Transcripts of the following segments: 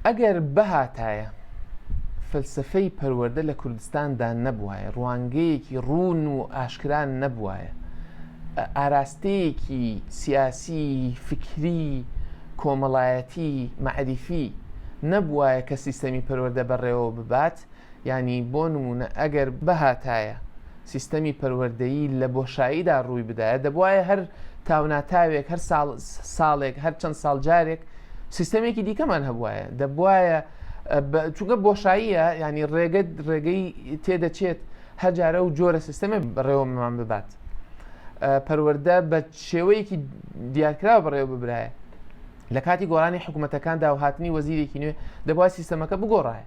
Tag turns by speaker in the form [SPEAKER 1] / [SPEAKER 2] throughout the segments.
[SPEAKER 1] ئەگەر بهاتایە فەلسەفەی پەروەردە لە کوردستاندا نەبوایە ڕوانگەیەکی ڕوون و ئاشکران نەبوایە ئاراستەیەکی سیاسی فکری کۆمەڵایەتی مەعریفی نەبوایە کە سیستەمی پەروەردە بەڕێوە ببات یانی بۆ نموونە ئەگەر بهاتایە سیستەمی پەروەردەیی لە بۆشاییدا ڕووی بدایە، دەبوایە هەر تاوناتاوێک، هەر ساڵ ساڵێک، هەر چەند ساڵ جارێک سیستەمێکی دیکەمان هەبوایە، دەبوایە چونکە بۆشاییە یانی ڕێگە ڕێگەی تێدەچێت هەر جارە و جۆرە سیستەمە بەڕێوەمان ببات. پەروەەردە بە شێوەیەکی دیارکراوە بەڕێوە ببرایە لە کاتی گۆرانی حکوومەتەکاندا و هاتنی وەزیرێکی نوێ دەبای سیستەمەکە بگۆڕایە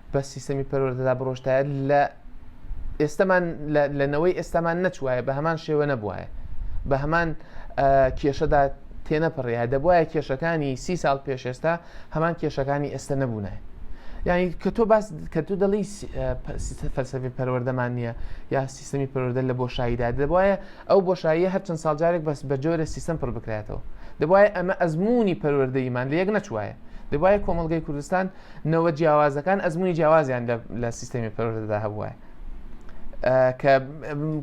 [SPEAKER 1] بە سیستەمی پەروەردەدا بڕۆشتایە لە ئێستەمان لە نەوەی ئێستامان نەچوایە بە هەمان شێوە نەبواە بە هەمان کێشەدا تێنەپڕیا دەبواە کێشەکانی سی ساڵ پێش ئێستا هەمان کێشەکانی ئێستا نەبوونە یعنی کە تۆ باس کە تو دەڵی فەلسەفی پەروەردەمان نییە یا سیستمی پەروەردە لە بۆشاییدا دەبواە ئەو بۆشاییە هەرچەند ساڵجارێک بەس بە جۆرە سیستم پڕ بکرێتەوە دەبواە ئەمە ئەزمموی پەروەردەیمان لە یەک نەچوایە دەبواە کۆمەلگای کوردستان نەوە جیاوازەکان ئەزمونی جیاوازیان لە سیستەمی پەرۆشدا هەبووە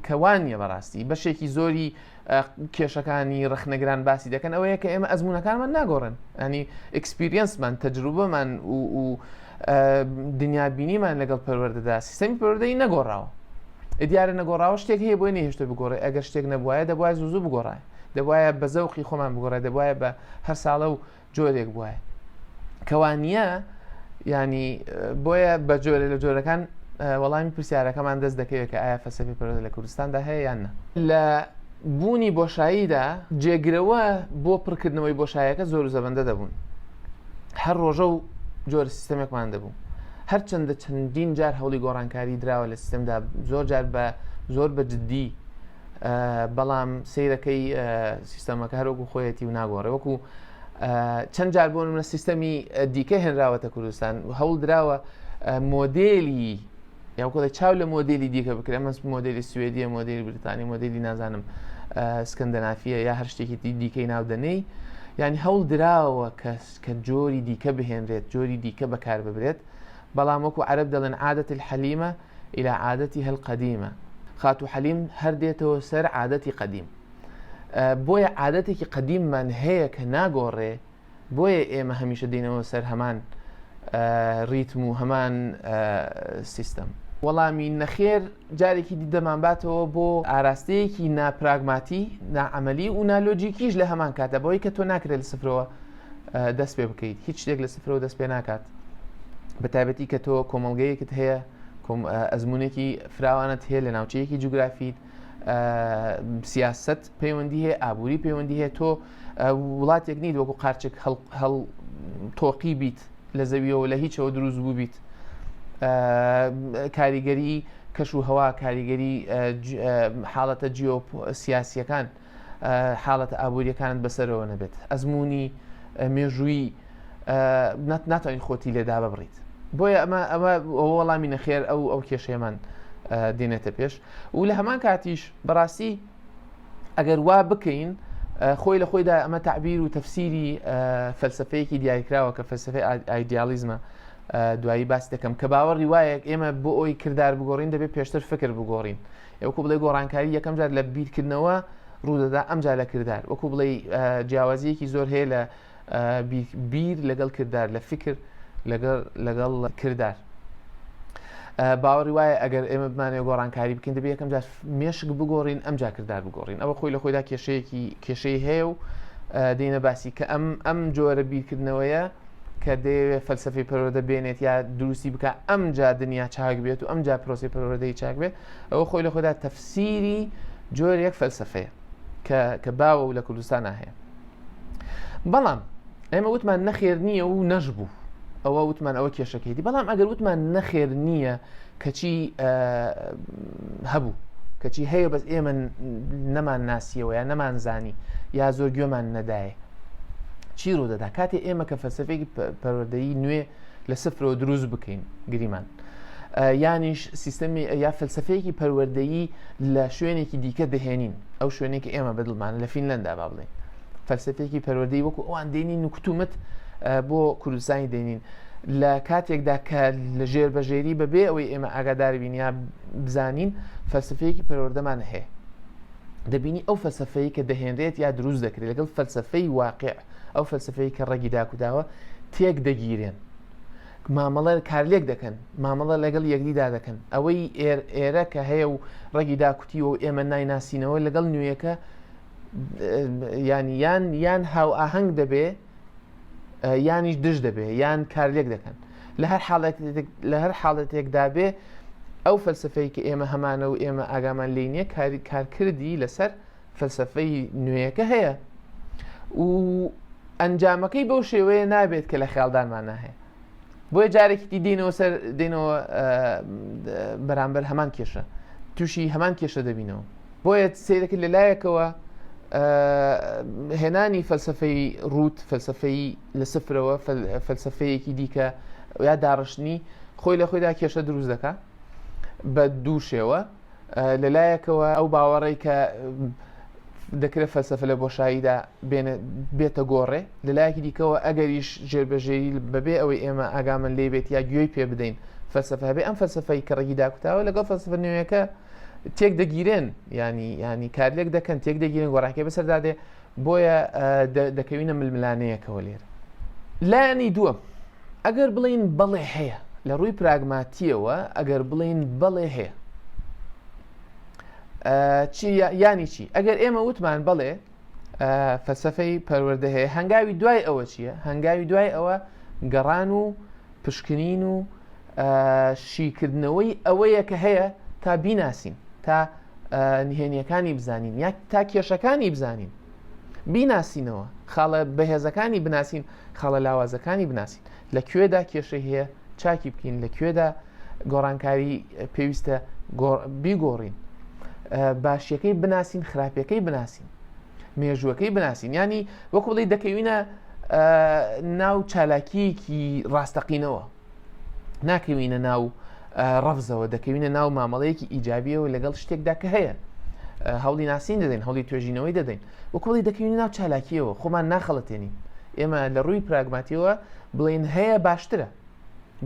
[SPEAKER 1] کە وانە بەڕاستی بەشێکی زۆری کێشەکانی ڕخنەگران باسی دەکەن ئەوەیە کە ئێمە ئەزمونونەکانمان ناگۆڕن ئەنی ئەکسپریەنسمان تەجروبەمان و دنیا بینیمان لەگەڵ پەروەەردەدا سیستەمی پەروەدەی نەگۆڕاوە دیارە نەگۆڕاوە شتێک هەیە بۆی نهێشتە بگۆڕێ ئەگەر شتێک نەبواە دەبواە زوزو بگۆڕای دەبواە بە زەوقی خۆمان بگۆڕێ دەبواە بە هەر ساڵە و جۆرێک بواە کەوانە ینی بۆیە بە جۆرە لە جۆرەکان وەڵامی پرسیارەکەمان دەست دەکەوێت کە ئایا فەسەفی پەرۆز لە کوردستاندا هەیە یان نە لە بوونی بۆشاییدا جێگرەوە بۆ پڕکردنەوەی بۆشایەکە زۆر زەبندە دەبوون هەر ڕۆژە و جۆر سیستەمێکمان دەبوو هەرچەندە چەندین جار هەوڵی گۆڕانکاری دراوە لە سیستمدا زۆر جار بە زۆر بە جددی بەڵام سیرەکەی سیستەمەکە هەروەکو خۆیەتی و ناگۆڕێ وەکو چەند جار بۆن منە سیستەمی دیکە هێنراوەتە کوردستان هەوڵ دراوە مۆدێلی یاکۆی چاو لە مۆدیلی دیکە بکرێ مەس مۆدیلی سوێدیە مۆدیلی بریتانی مۆدیلی نازانم سکندنافیە یا هەر شتێکی دیکەی ناودەنەی ینی هەوڵ دراوە کەس کە جۆری دیکە بهێنرێت جۆری دیکە بەکار ببرێت بەڵام وەکو عرب دەڵێن عادەت الحەلیمە الى عادتها القدیمە خاتوو حەلیم هەر دێتەوە سەر عادەتی قەدیم بۆیە عادەتێکی قەدیممان هەیە کە ناگۆڕێ بۆیە ئێمە هەمیشە دینەوە سەر هەمان ریتم و هەمان سیستەم وەڵامی نەخێر جارێکی دیدەمان باتەوە بۆ ئاراستەیەکی ناپراگماتی ناعملی و نالۆجیکیش لە هەمان کاتە بۆی کە تۆ ناکرێت سفرەوە دەست پێ بکەیت هیچ شتێک لە سفرەوە دەست پێ ناکات بە تایبەتی کە تۆ کۆمەلگەیەکت هەیە ئەزمونێکی فراوانت هەیە لە ناوچەیەکی جوگرافیت سیاست پەیوەندی هەیە ئابووری پەیوەندی هەیە تۆ وڵاتێک نیت وەکو قارچێک هەڵ تۆقی بیت لە زەویەوە لە هیچەوە دروست بوو بیت کاریگەری کەش و هەوا کاریگەری حاڵەتە جیۆ سیاسیەکان حاڵەتە ئابووریەکانت بەسەرەوە نەبێت ئەزمموی مێژووی ناتوانین خۆتی لێدا ببڕیت بۆیە ئەمە ئەمە وەڵامی نەخێر ئەو ئەو کێشێمان دێنێتە پێش و لە هەمان کاتیش بەڕاستی ئەگەر وا بکەین خۆی لە خۆیدا ئەمە تعبیر و تەفسیری فەلسفەیەکی دیاریکراوە کە فەلسفەی ئایدیالیزمە دوایی باس دەکەم کە باوەڕی وایەک ئێمە بۆ ئەوی کردار بگۆڕین دەبێت پێشتر فکر بگۆڕین. یە وەکو بڵێی گۆڕانکاری یەکەم جار لە بیرکردنەوە ڕوودەدا ئەمجا لە کردار وەکو بڵێی جیاوازیەکی زۆر هەیە لە بیر لەگەڵ کردار لە فکر لەگەڵ کردار باوەڕی وایە ئەگەر ئێمە بمانێ گۆڕانکاری بکەین دەبێت یەکەم جار مێشک بگۆڕین ئەم جاکردار بگۆڕین ئەوە خۆی لە خۆیدا کێشەیەکی کێشەی هەیە و دێنە باسی کە ئەم ئەم جۆرە بیرکردنەوەیە کە دەیەوێت فەلسفەی پەروەردە بێنێت یا دروستی بکە ئەم جا دنیا چاک بێت و ئەم جا پرۆسی پەروەردەی چاک بێت ئەوە خۆی لە خۆدا تەفسیری جۆر یەک فەلسفەیە کە باوە و لە کوردستان هەیە بەڵام ئێمە وتمان نەخێر نییە و نەژبوو ئەوە وتمان ئەوە کێشەکەیتی بەڵام ئەگەر وتمان نەخێر نییە کەچی هەبوو کەچی هەیە بەس ئێمە نەمان ناسیەوە یا نەمان زانی یا زۆر گوێمان نەدایە چی ڕوودەدا کاتێ ئێمە کە فەلسفێکی پەروەدەی نوێ لە سفرەوە دروست بکەین گریمان یانیش سیستەمی یا فەلسفەیەکی پەروەردەیی لە شوێنێکی دیکە دەهێنین ئەو شوێنێکی ئێمە بەدڵمان لە فینلندا با بڵێن فەلسفەیەکی پەروەدەی وەکو ئەوان دێنین و کتومت بۆ کوردستانی دێنین لە کاتێکدا کە لە ژێر بەژێری بەبێ ئەوەی ئێمە ئاگاداربین یا بزانین فەلسفەیەکی پەروەردەمان هەیە دەبینی ئەو فەلسفەیە کە دەهێنرێت یا دروست دەکرێت لەگەڵ فەلسفەی واقع ئەو فەلسفەیە کە ڕێگی داکوداوە تێک دەگیرێن مامەڵە کارلێک دەکەن مامەڵە لەگەڵ یەکدیدا دەکەن ئەوەی ئێرە کە هەیە و ڕێگی داکوتی و ئێمە نایناسینەوە لەگەڵ نوێیەکە یانی یان یان هاو ئاهەنگ دەبێ یانیش دژ دەبێ یان کارلێک دەکەن لە هەر حاڵێک لە هەر حاڵەتێکدا بێ ئەو فەلسفەی کە ئێمە هەمانە و ئێمە ئاگامان لی نییە کاری کارکردی لەسەر فەلسفەی نوێیەکە هەیە و ئەنجامەکەی بەو شێوەیە نابێت کە لە خیاڵدانمان ناهەیە بۆیە جارێکی دی دێنەوە سەر دێنەوە بەرامبەر هەمان کێشە تووشی هەمان کێشە دەبینەوە بۆیە سیرەکە لە لایەکەوە هێنانی فەلسفەی ڕوت فەلسفەی لە سفرەوە فەلسفەیەکی دیکە یا داڕشتنی خۆی لە خۆیدا کێشە دروست دەکە بە دوو شێوە لە لایەکەوە ئەو باوەڕەی کە دەکرێت فەلسەفە لە بۆشاییدا بێتە گۆڕێ لە لایەکی دیکەوە ئەگەریش ژێربەژێری بەبێ ئەوەی ئێمە ئاگامن لێ بێت یا گوێی پێ بدەین فەلسەفە هەبێ ئەم فەلسەفەی کە ڕێگی داکوتاوە لەگەڵ فەلسەفە نوێیەکە تێک دەگیرێن ینی ینی کارلێک دەکەن تێک دەگیرن گۆڕاکێ بەسەردادێ بۆیە دەکەوینە ململانەیەکەوە لێر لایەنی دووە ئەگەر بڵین بەڵێ هەیە لە ڕووی پراگماتیەوە ئەگەر بڵین بەڵێ هەیە چی ینی چی ئەگەر ئێمە وتمان بەڵێ فەلسفەی پەروەردە هەیە هەنگاوی دوای ئەوە چییە هەنگاوی دوای ئەوە گەڕان و پشکنین و شیکردنەوەی ئەوەیە کە هەیە تا بیناسین تا نهێنیەکانی بزانین یا تا کێشەکانی بزانین بیناسینەوە خاڵە بەهێزەکانی بناسین خاڵە لاوازەکانی بناسین لە کوێدا کێشەی هەیە چاکی بکەین لە کوێدا گۆڕانکاری پێویستە بیگۆڕین باشیەکەی بناسین خراپەکەی بناسین مێژووەکەی بناسین ینی وەکوڵی دەکەوینە ناو چالاکییەکی ڕاستەقینەوە، ناکەوینە ناو ڕەفزەوە، دەکەوینە ناو مامەڵەیەکی ئیجابییەوە لەگەڵ شتێکدا کە هەیە. هەوڵی ناسین دەدەین، هەوڵی توێژینەوەی دەدەین، وەک وڵی دەکەوینە ناو چالاکییەوە، خۆمان ناخەڵەتێنین. ئێمە لە ڕووی پراگماتیەوە بڵێین هەیە باشترە.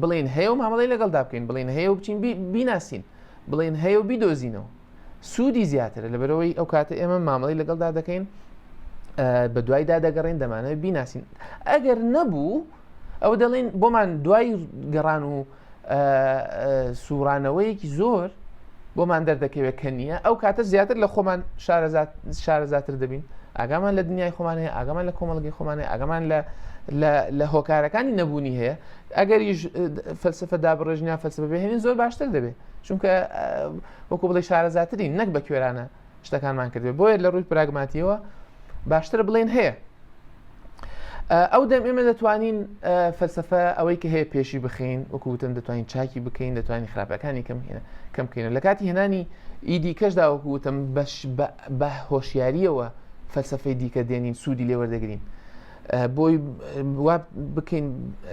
[SPEAKER 1] بڵێین هەیە و مامەڵەی لەگەڵدا بکەین، بڵێین هەیە و بچین بیناسین، بڵێین هەیە و بیدۆزینەوە. سوودی زیاترە لەبەرەوەی ئەو کاتە ئێمە مامەڵی لەگەڵدا دەکەین بە دوایدا دەگەڕین دەمانە بیناسین ئەگەر نەبوو ئەو دەڵێن بۆمان دوای گەڕان و سوورانەوەیەکی زۆر بۆمان دەردەکەوێت کە نییە ئەو کاتە زیاتر لە خۆمان شارەزاتر دەبین ئاگامان لە دنیای خۆمان هەیە ئاگامان لە کۆمەڵگەی خۆمانە ئاگامان لە لە هۆکارەکانی نەبوونی هەیە ئەگەریش فەلسفە دابڕێژنیا فەلسفە بێ هێن زۆر باشتر دەبێت چونکە وەکو بڵی شارەزاترین نەک بە کوێرانە شتەکانمان کردێ بۆیە لە ڕووی پراگماتیەوە باشتر بڵێن هەیە ئەو دەم ئێمە دەتوانین فەلسفە ئەوەی کە هەیە پێشی بخین وەکوتم دەتوانین چاکی بکەین دەتوانین خراپەکانی کەم هێنە کەم بکەین لە کاتی هێنانی ئیدی کەشدا وەکوتم بەش بە هۆشیاریەوە فەلسفەی دیکە دێنین سوودی لێوەردەگرین بۆی وا بکەین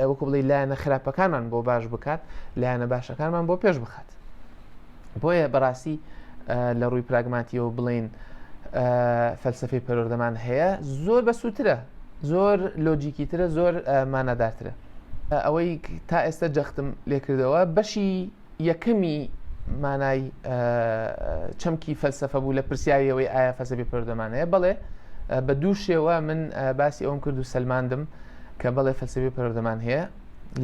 [SPEAKER 1] وەکو بڵی لایەنە خراپەکانمان بۆ باش بکات لایەنە باشەکانمان بۆ پێش بخات بۆیە بەڕاستی لە ڕووی پراگماتیەوە بڵین فەلسفی پەرۆردەمان هەیە زۆر بە سووترە زۆر لۆجیکی ترە زۆر مانادارترە ئەوەی تا ئێستا جەختم لێکردەوە بەشی یەکەمی مانای چەمکی فەلسفە بوو لە پرسیاری ئەوەی ئایا فەسەبی پەرۆدەمانەیە بەڵێ بە دوو شێوە من باسی ئەوم کرد و سلماندم کە بەڵێ فەلسەبی پەرۆدەمان هەیە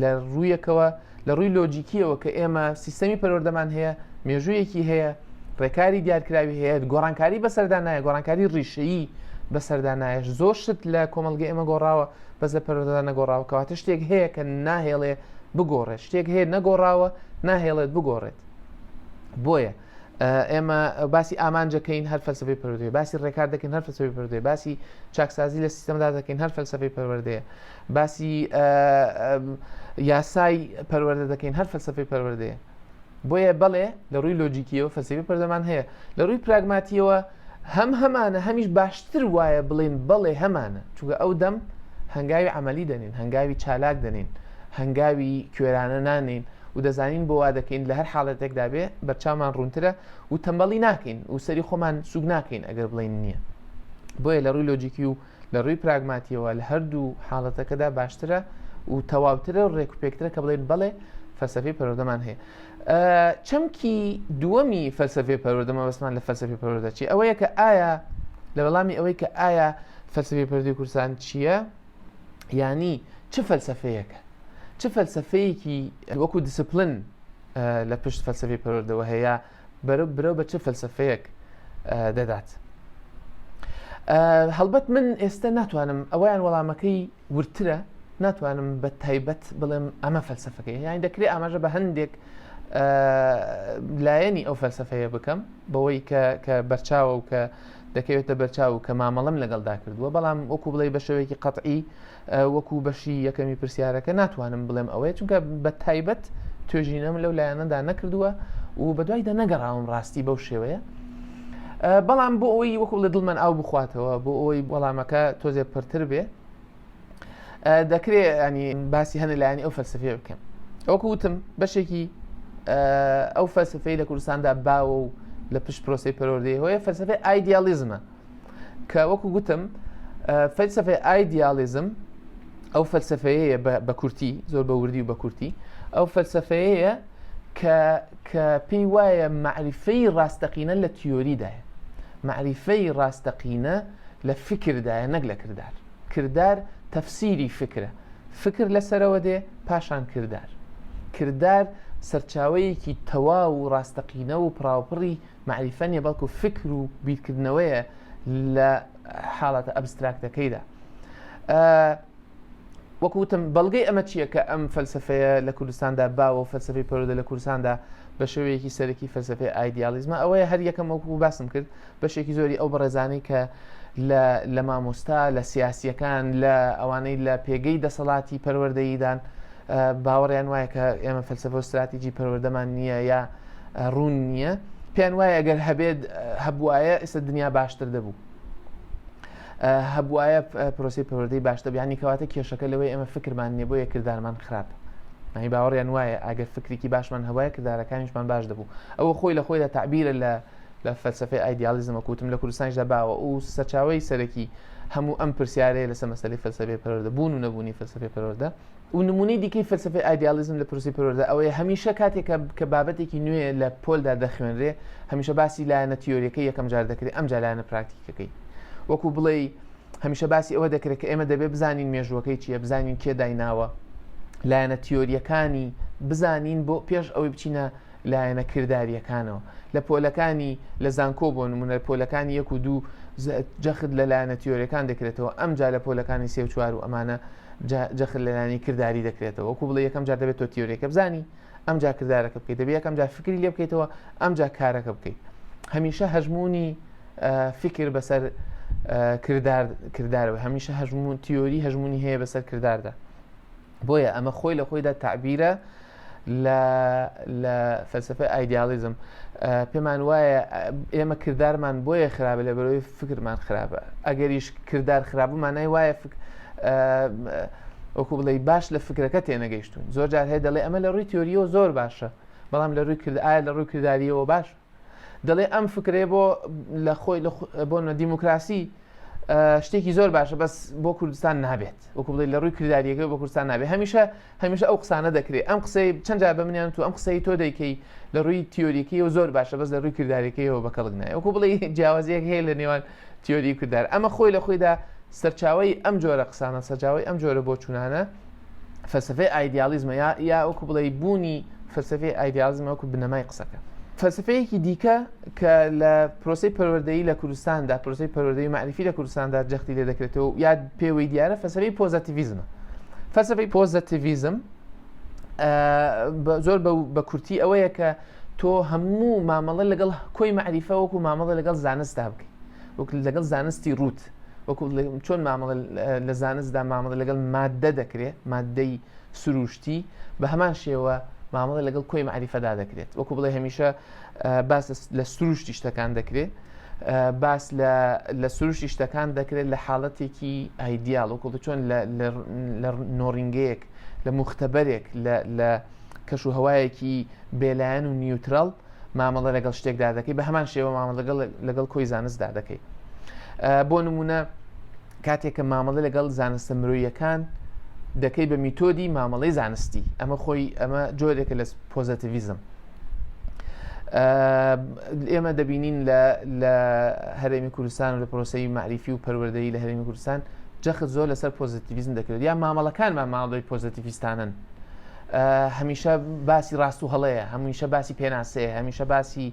[SPEAKER 1] لە ڕوویەکەوە لە ڕووی لۆجیکیەوە کە ئێمە سیستەمی پەرۆردەمان هەیە مێژوویەکی هەیە ڕێکاری دیارکراوی هەیە گۆڕانکاری بەسەردا نایە گۆڕانکاری ڕیشەیی بەسەردا نایش زۆر شت لە کۆمەلگە ئێمە گۆڕاوە بەس لە پەرۆدەدا نەگۆڕاوکەواتە شتێک هەیە کە ناهێڵێ بگۆڕێت شتێک هەیە نەگۆڕاوە ناهێڵێت بگۆڕێت بۆیە ئێمە باسی ئامانجەکەین هەر فەلسفەی پەروەردەیە باسی ڕێکار دەکەین هەر فەلسفەی پەروەردەیە باسی چاکسازی لە سیستمدا دەکەین هەر فەلسفەی پەروەردەیە باسی یاسای پەروەردە دەکەین هەر فەلسفەی پەروەردەیە بۆیە بەڵێ لە ڕووی لۆجیکیەوە فەسیبی پەردەمان هەیە لە ڕووی پراگماتیەوە هەم هەمانە هەمیش باشتر وایە بڵین بەڵێ هەمانە چونکە ئەو دەم هەنگاوی عملی دەنین هەنگاوی چالاک دەنین هەنگاوی کوێرانە نانین و دەزانین بۆ وا دەکەین لە هەر حاڵەتێکدا بێ بەرچاومان ڕوونترە و تەمەڵی ناکەین و سەری خۆمان سوک ناکەین ئەگەر بڵین نییە بۆیە لە ڕووی لۆجیکی و لە ڕووی پراگماتییەوە لە هەردوو حاڵەتەکەدا باشترە و تەواوترە و ڕێکوپێکترە کە بڵێین بەڵێ فەلسەفەی پەروەردەمان هەیە. چەمکی دووەمی فەلسەفەی پەروەردە مەبەستمان لە فەلسەفەی پەروەردە چی؟ ئەوەیە کە ئایا لە وەڵامی ئەوەی کە ئایا فەلسەفەی پەروەردەی کوردستان چییە؟ یانی چ فەلسەفەیەکە؟ چ فەلسەفەیەکی وەکو دیسپلن لە پشت فەلسەفەی پەروەردەوە هەیە؟ برەو بە چ فەلسەفەیەک دەدات هەڵبەت من ئێستا ناتوانم ئەویان وەڵامەکەی ورترە ناتوانم بە تایبەت بڵێم ئەمە فەلسفەکەی یانی دەکرێت ئاماژە بە هەندێک لایەنی ئەو فەلسفەیە بکەم بەوەی کە کە بەرچاوە و کە دەکەوێتە بەرچاو و کە مامەڵم لەگەڵدا کردووە بەڵام وەکو بڵێ بە شێوەیەکی قەتعی وەکو بەشی یەکەمی پرسیارەکە ناتوانم بڵێم ئەوەیە چونکە بە تایبەت توێژینەم لەو لایەنەدا نەکردووە و بەدوای دە نەگەڕاوم ڕاستی بەو شێوەیە بەڵام بۆ ئەوی وەکو لە دڵمان ئاو بخواتەوە بۆ ئەوەی وەڵامەکە تۆزێ پرتر بێ دەکرێت ینی باسی هەنە لایەنی ئەو فەلسفێ بکەم ئەوکە وتم بەشێکی ئەو فەلسفەی لە کوردستاندا باوە و لە پشت پرۆسی پەرۆردەی هۆیە فەلسفەی ئایدیالیزمە کە وەکو گوتم فەلسفەی ئایدیالیزم ئەو فەلسفەیە بە کورتی زۆر بە وردی و بە کورتی ئەو فەلسفەیە کە پێی وایە معریفەی ڕاستەقینە لە تیۆریدایە معریفەی ڕاستەقینە لە فکردایە نەک لە کردار کردار تەفسیری فکرە فکر لەسەرەوە دێ پاشان کردار کردار سەرچاوەیەکی تەواو و ڕاستەقینە و پراوپڕی مەعریفە نیە بەڵکو فکر و بیرکردنەوەیە لە حاڵەتە ئەبستراکتەکەیدا وەکو وتم بەڵگەی ئەمە چییە کە ئەم فەلسفەیە لە کوردستاندا باوە و فەلسفەی پەرۆدە لە کوردستاندا بە شێوەیەکی سەرەکی فەلسفەی ئایدیالیزمە ئەوەیە هەر یەکەم وەکو باسم کرد بەشێکی زۆری ئەو بەڕێزانەی کە لە مامۆستا لە سیاسیەکان لە ئەوانەی لە پێگەی دەسەڵاتی پەروەردەیدان باوەڕیان وایە کە ئێمە فەلسفە و استراتیجی پەروەردەمان نییە یا ڕوون نییە پێیان وایە گەر هەبێت هەبواە ئێستا دنیا باشتر دەبوو هەبواە پرۆسی پەروەدەی باشتە بیانی کەواتە کێشەکە لەوەی ئەمە فکرمان نیە بۆ یە کردارمان خراپ نای باوەڕیان وایە ئەگەر فکرێکی باشمان هەوایە کردارەکانیشمان باش دەبوو ئەوە خۆی لە خۆیدا تعبیرە لە لە فەلسفەی ئایدیالیزمە کوتم لە کوردستانیشدا باوە و سەرچاوی سەرەکی هەموو ئەم پرسیارەیە لەسە مەسلی فەلسفێ پەرۆدە بوون و نەبوونی فەلسفێ پەرۆدە و نموونەی دیکەی فەلسەفەی ئایدیاڵیزم لە پرۆسەی پەروەردە ئەوەیە هەمیشە کاتێک کە بابەتێکی نوێ لە پۆلدا دەخوێنرێ هەمیشە باسی لایەنە تیۆریەکەی یەکەم جار دەکرێت ئەم جالانە پراکتیکەکەی وەکو بڵێ هەمیشە باسی ئەوە دەکرێت کە ئێمە دەبێت بزانین مێژووەکەی چییە بزانین کێ دایناوە لایەنە تیۆریەکانی بزانین بۆ پێش ئەوەی بچینە لایەنە کردارییەکانەوە لە پۆلەکانی لە زانکۆ بۆ نمونە پۆلەکانی یەک و دوو جەخت لە لایەنە تیۆریەکان دەکرێتەوە ئەم جا لە پۆلەکانی سێ و چوار و ئەمانە جەخت لەلانی کردداری دەکرێتەوە وەکو بڵێ یەکەم جار دەبێت تۆ تیۆریەکە بزانی ئەم جا کردارەکە بکەیت دەبێت یەکەم جا فکری لێ بکەیتەوە ئەم جا کارەکە بکەیت هەمیشە هەژمونی فکر بەسەر کردار کردارەوە هەمیشە هەژمون تیۆری هەژمونی هەیە بەسەر کرداردا بۆیە ئەمە خۆی لە خۆیدا تعبیرە لە فەلسفە ئایدیالیزم پێمان وایە ئێمە کردارمان بۆیە خراپە لە بەرەوەی فکرمان خراپە ئەگەریش کردار خراپمانای وایە فکر وەکو بڵێ باش لە فکرەکە تێنەگەیشتون زۆر جار هەیە دەڵێ ئەمە لە ڕووی تۆریەوە زۆر باشە بەڵام لە ڕووی کرد ئایا لە ڕووی کردداریەوە باش دەڵێ ئەم فکرەیە بۆ لە خۆی بۆ نە دیموکراسی شتێکی زۆر باشە بەس بۆ کوردستان نابێت وەکو بڵێ لە ڕووی کردداریەکە بە کوردستان نابێت هەمیشە هەمیشە ئەو قسانە دەکرێت ئەم قسەی چەند جار بە منیان تو ئەم قسەی تۆ دەیکەی لە ڕووی تیۆریکی و زۆر باشە بەس لە ڕووی کردداریەکەیەوە بە کەڵک نایە وەکو بڵێ جیاوازیەک هەیە لە نێوان تیۆری کردار ئەمە خۆی لە خۆیدا سەرچاوی ئەم جۆرە قسانە سەجاوی ئەم جۆرە بۆ چونانە فەلسفەی ئایدیالیزمە یا یا وەکو بڵێ بوونی فەلسفەی ئایدیالیزمە وەکو بنەمای قسەکە فەلسفەیەکی دیکە کە لە پرۆسی پەروەردەی لە کوردستاندا پرۆسی پەروەردەی معرفی لە کوردستاندا جەختی لێ دەکرێتەوە یا پێوەی دیارە فەسەری پۆزەتیڤزمە فەسەفی پۆزەتیڤزم زۆر بە کورتی ئەوەیە کە تۆ هەموو مامەڵە لەگەڵ کۆی معریفە وەکو مامەڵە لەگەڵ زانستدا بکەیت وەک لەگەڵ زانستی ڕوت وەکو چۆن مامەڵە لە زانستدا مامەڵە لەگەڵ مادە دەکرێت مادەی سروشتی بە هەمان شێوە مامەڵە لەگەڵ کۆی معریفەدا دەکرێت وەکو بڵێ هەمیشە باس لە سروشتی شتەکان دەکرێت باس لە سروشتی شتەکان دەکرێت لە حاڵەتێکی ئایدیال وەکو چۆن لە نۆڕینگەیەک لە مختبەرێک لە کەش و هەوایەکی بێلایەن و نیوترال مامەڵە لەگەڵ شتێکدا دەکەی بە هەمان شێوە مامە لەگەڵ لەگەڵ کۆی زانستدا دەکەی بۆ نمونە کاتێککە مامەڵە لەگەڵ زانستە مرۆیەکان دەکەی بە میتۆدی مامەڵی زانستی ئەمە خۆی ئەمە جۆرێکە لە پۆزەتیڤزم ئێمە دەبینین لە هەرێمی کوردستان و لە پرۆسی معریفی و پەروەدەی لە هەرێمی کوردستان جەخت زۆر لەسەر پۆزیتیویزم دەکرێت یا مامەڵەکانمان ماڵدەی پۆزیتیویستانن هەمیشە باسی ڕاست و هەڵەیە هەمیشە باسی پێناسەیە هەمیشە باسی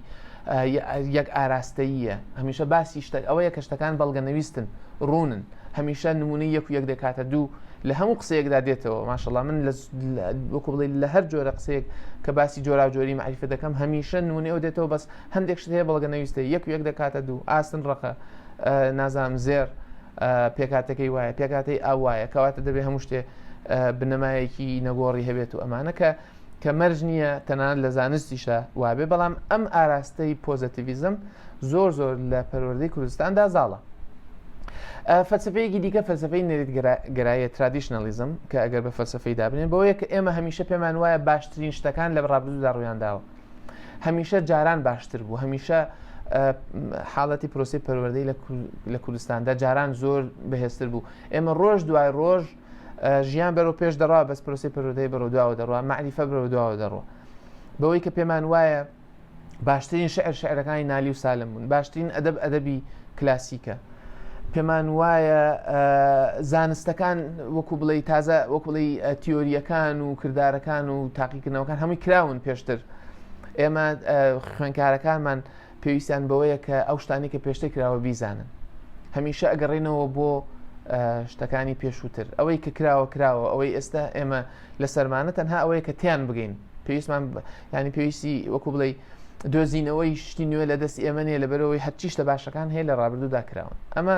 [SPEAKER 1] یەک ئاراستەییە هەمیشە باسی شتە ئەوەیە کە شتەکان بەڵگە نەویستن ڕوونن هەمیشە نمونەی یەک و یەک دەکاتە دوو لە هەموو قسەیەکدا دێتەوە ماشەڵا من وەکو بڵێ لە هەر جۆرە قسەیەک کە باسی جۆرا جۆری معریفە دەکەم هەمیشە نمونەی ئەو دێتەوە بەس هەندێک شت هەیە بەڵگە نەویستە یەک و یەک دەکاتە دوو ئاسن ڕقە نازام زێر پێکاتەکەی وایە پێکاتی ئاوایە کەواتە دەبێ هەموو شتێ بنەمایەکی نەگۆڕی هەبێت و ئەمانە کە کە مەرج نییە تەنان لە زانستیشدا وابێ بەڵام ئەم ئاراستەی پۆزەتیڤزم زۆر زۆر لە پەروەردەی کوردستاندا زاڵە فەلسفەیەکی دیکە فەلسفەی نەریت گەرایە ترادیشنەلیزم کە ئەگەر بە فەلسفەی دابنێن بۆیە کە ئێمە هەمیشە پێمان وایە باشترین شتەکان لە ڕابردوودا ڕویان داوە هەمیشە جاران باشتر بوو هەمیشە حاڵەتی پرۆسی پەروەردەی لە کوردستاندا جاران زۆر بەهێزتر بوو ئێمە ڕۆژ دوای ڕۆژ ژیان بەرەو پێش دەڕا بەس پرۆسی پەرۆدەی بەرەو دواوە دەڕوە معنیفە بەرەو دواوە دەڕوە بەوەی کە پێمان وایە باشترین شعر شعرەکانی نالی و سالم بوون باشترین ئەدەب ئەدەبی کلاسیکە پێمان وایە زانستەکان وەکو بڵێ تازە وەک بڵێ تیۆریەکان و کردارەکان و تاقیکردنەوەکان هەمووی کراون پێشتر ئێمە خوێنکارەکانمان پێویستیان بەوەیە کە ئەو شتانی کە پێشتر کراوە بیزانن هەمیشە ئەگەڕێنەوە بۆ شتەکانی پێشووتر ئەوەی کە کراوە کراوە ئەوەی ئێستا ئێمە لە سەرمانە تەنها ئەوەیە کە تیان بگەین پێویستمان ینی پێویستی وەکو بڵێ دۆزینەوەی شتی نوێ لە دەست ئێمە نیە لەبەرەوەی هەرچی شتە باشەکان هەیە لە ڕابردوودا کراون ئەمە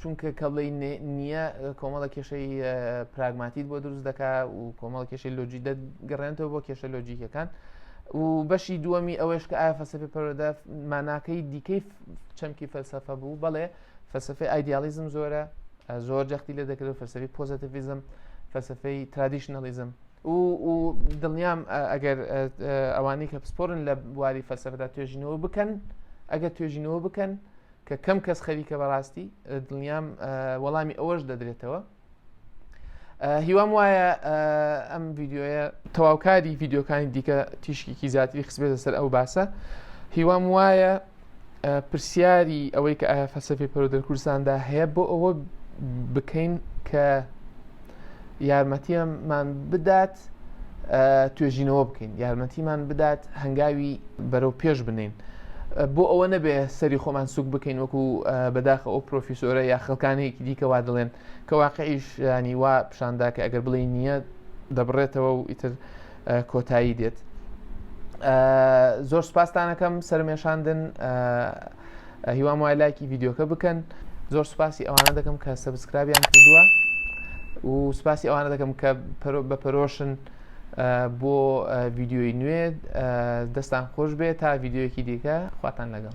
[SPEAKER 1] چونکە کە بڵێ نییە کۆمەڵە کێشەی پراگماتیت بۆ دروست دەکا و کۆمەڵ کێشەی لۆجی دەگەڕێنەوە بۆ کێشە لۆجیکەکان و بەشی دووەمی ئەوەش کە ئایا فەسەفی پەرۆدا ماناکەی دیکەی چەمکی فەلسەفە بوو بەڵێ فەسەفی ئایدیالیزم زۆرە زۆر جەختی لە دەکرێت فەسەفی پۆزتیڤزم فەسەفەی ترادیشنەڵیزم و دڵنیام ئەگەر ئەوانەی کە پسپۆرن لە بواری فەسەفدا توێژینەوە بکەن ئەگەر توێژینەوە بکەن کە کەم کەس خەریکە بەڕاستی دڵنیام وەڵامی ئەوەش دەدرێتەوە هیوام وایە ئەم ڤیددیوە تەواوکاری ڤیددیوکانی دیکە تیشکێکی زیاتری خسبێتە سەر ئەو باسە هیوام وایە پرسیاری ئەوەی کە ئایا فەسەفی پەرۆدەر کوردستاندا هەیە بۆ ئەوە بکەین کە یارمەتیەمان بدات دەبێت توێژینەوە بکەین یارمەتیمان بدات هەنگاوی بەرەو پێش بنین بۆ ئەوە نەبێ سەری خۆمان سوک بکەین وەکو بەداخە ئەو پرۆفیسۆرە یا خەکانێکی دیکەوا دەڵێن کە واقعیش ینی وا پیشاندا کە ئەگەر بڵێ نییە دەبڕێتەوە و ئیتر کۆتایی دێت زۆر سپاسانەکەم سەرمێشاندن هیوام وای لایکی ڤیددیوکە بکەن زۆر سوپاسی ئەوانە دەکەم کە سەبسکرابیان کردووە و سوپاسی ئەوانە دەکەم کە بە پەرۆشن بۆ ڤیددیوی نوێ دەستان خۆش بێت تا ڤیددیوەکی دیکە خواتان لەگەڵ